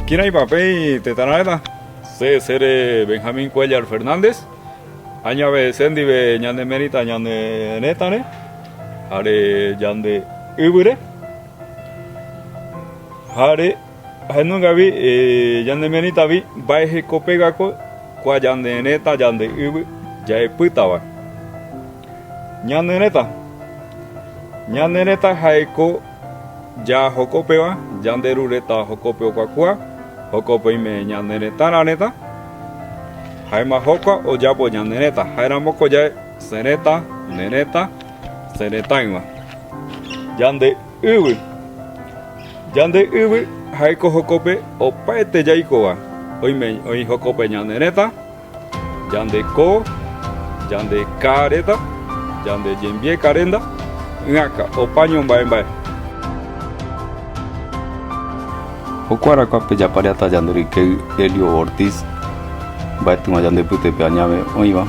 Kina papel tetanareta, se sere Benjamín Cuellar Fernández, aña vez sendive ñande merita ñande netare, are yande ibure, are Ahenungavi ñane merĩtavi mba'eheko pegako kua ñane retã ñande yvy ja'epýtava. Ñane retã. Ñane retã jaeko ja jokopeva, ñande ru retã jokópe okuakua, jokópe oime ñane retã ra retã, jaema jokua oyapo ñane retã. Jaeramoko jae se retã, ne retã, se retãyva. Yvy. Yande yvy jaiko jokope opaete jaikova. Oime oĩ jokope ñane retã, yande ko, yande ka reta, yande jembie ka renda, ỹaka, opa ñomba'e mba'e. Joko arakua pe japariata yande rykey Elio Ortiz, mbaetýma yande pytepe añáme oĩva,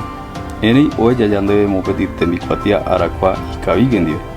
erei oeja yandeve mopeti tembikuatia arakua ikavígue ndive.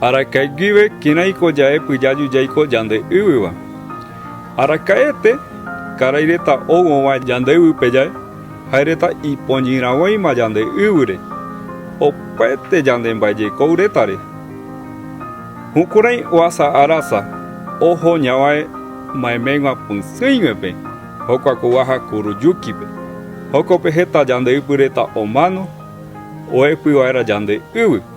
Araka'e guive kiraiko ja'e pyjaju jaiko yande yvyva. Araka'ete karai reta ouõva yande yvype ja'e, jae reta ipoñyragõima yande yvyre, opaete yande mba'ejekou retare. Jukurai ohasa arasa oho ñavae maeméigua pysỹiguepe, jokua ko guaja Kuruyukipe. Jokope heta yande ypy reta omano oepyvaera yande yvy.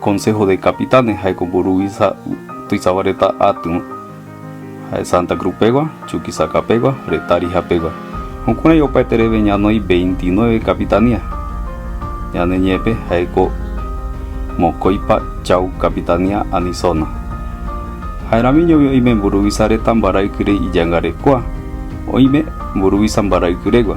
Consejo de Capitanes jaeko mburuvicha tuichava reta atýva, ha'e Santa Cruz pegua, Chuquisaca pegua, Retarija pegua. Jukurai opaetereve ñanoi veintinueve capitanía. Ñane ñe'ẽpe jaeko mokõipa chau capitanía ani zona. Ha'eramiñovi oime mburuvicha reta mbaraykyre ijangarekua, oime mburuvicha mbaraykyregua.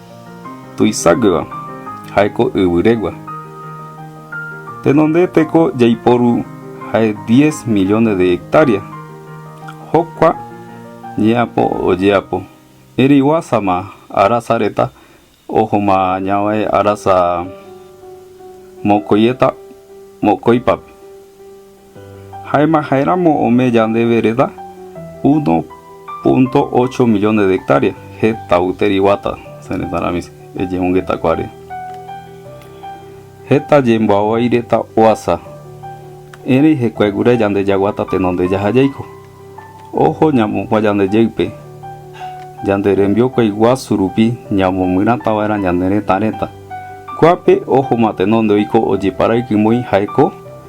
Tuiságueva, ha'éko yvyrégua. Tenonde teko jaiporu ha'e diez millones de hectárea. Hokua ñeapo ojeapo, ereiguásama arasa reta ohoma ñavai arasa mokoieta mokoipape. Ha'éma ha'éramo ome yande vereda 1.8 millones de hectáreas heta yteri guata se retã rami ejeungeta kuare. Heta jemboavai reta oasa, erei hekuae gura yande jaguata tenonde jaha jaiko. Ojo ñamokua yande jeype, yande rembiokuai guasu rupi ñamomyrata vaerã ñane retã reta. Kuape ojo ma tenonde oiko ojeparaiky moi ha'e ko,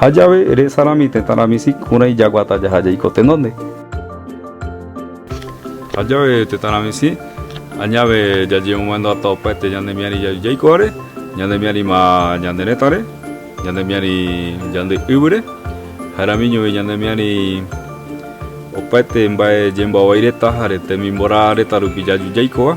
Ha jave, resarami tetã rami sykũrãi jaguata jaha jaiko tenonde. Ha jave, tetã rami sy, añave jajemomandu'ata opaete ñanemiari jaju jaiko'are, ñanemiarima ñande retãre, ñanemiari ñande yvyre, jaeramiñovi ñanemiari opaete mbae jemboavai reta jare temimborã reta rupi jaju jaikova.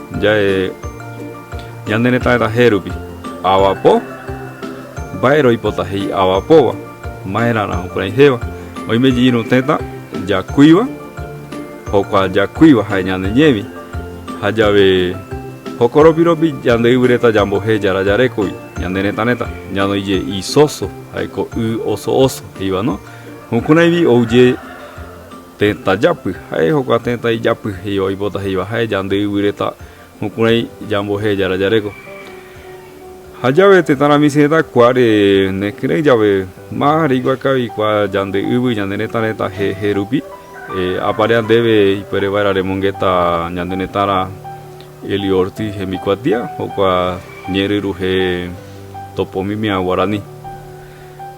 Jae ñane retã retahérupi, avapo, mba'ére oipota he'i avapóva, maerãrã jukurai héva, oime jey irũ téta jakuiva, jokua jakuiva jae ñane ñévi, ha jave jokoropi ropi yande yvy reta yambohé yara yarékogui, ñane retã reta, ñanoi je y soso, jaeko y oso oso, heivano, jukuraivi ouje. Tetãjapy, ha'e hokua tetã ijapy he'íva oipota he'íva ha'e Yande yvy retã jukurai yambo'ehe Jára jareko. Ha jave tetã ra michĩ retã kuáre nekyrei jave ma reikua kavi kua Yande yvy ñande retã retã he'ehe rupi, apare andeve ipuere vaera remongeta ñande retã ra Elio Ortiz hembikuatia, hokua ñe'ẽryruhe topomimia guarani.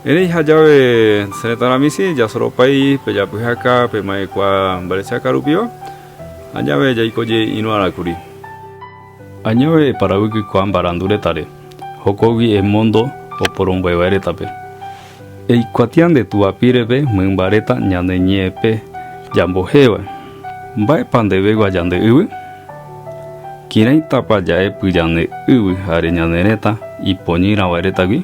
Erei ha jave che retãrã michĩ jasoropái pe japyhaka pe ma'ekua mbarechaka rupiva, ha jave jaiko jey irũarã kuri. Añave eparavykykua mbarandu retãre, jokogui emondo oporomboeva'e retãpe. Eikuatia nde túva pírepe mymba reta ñane ñe'ẽpe jambohéva, Mba'épa ndevegua jande yvy? Kireĩtapa ja'epy jane yvy jare ñane retã ipoñýrava'e retãgui?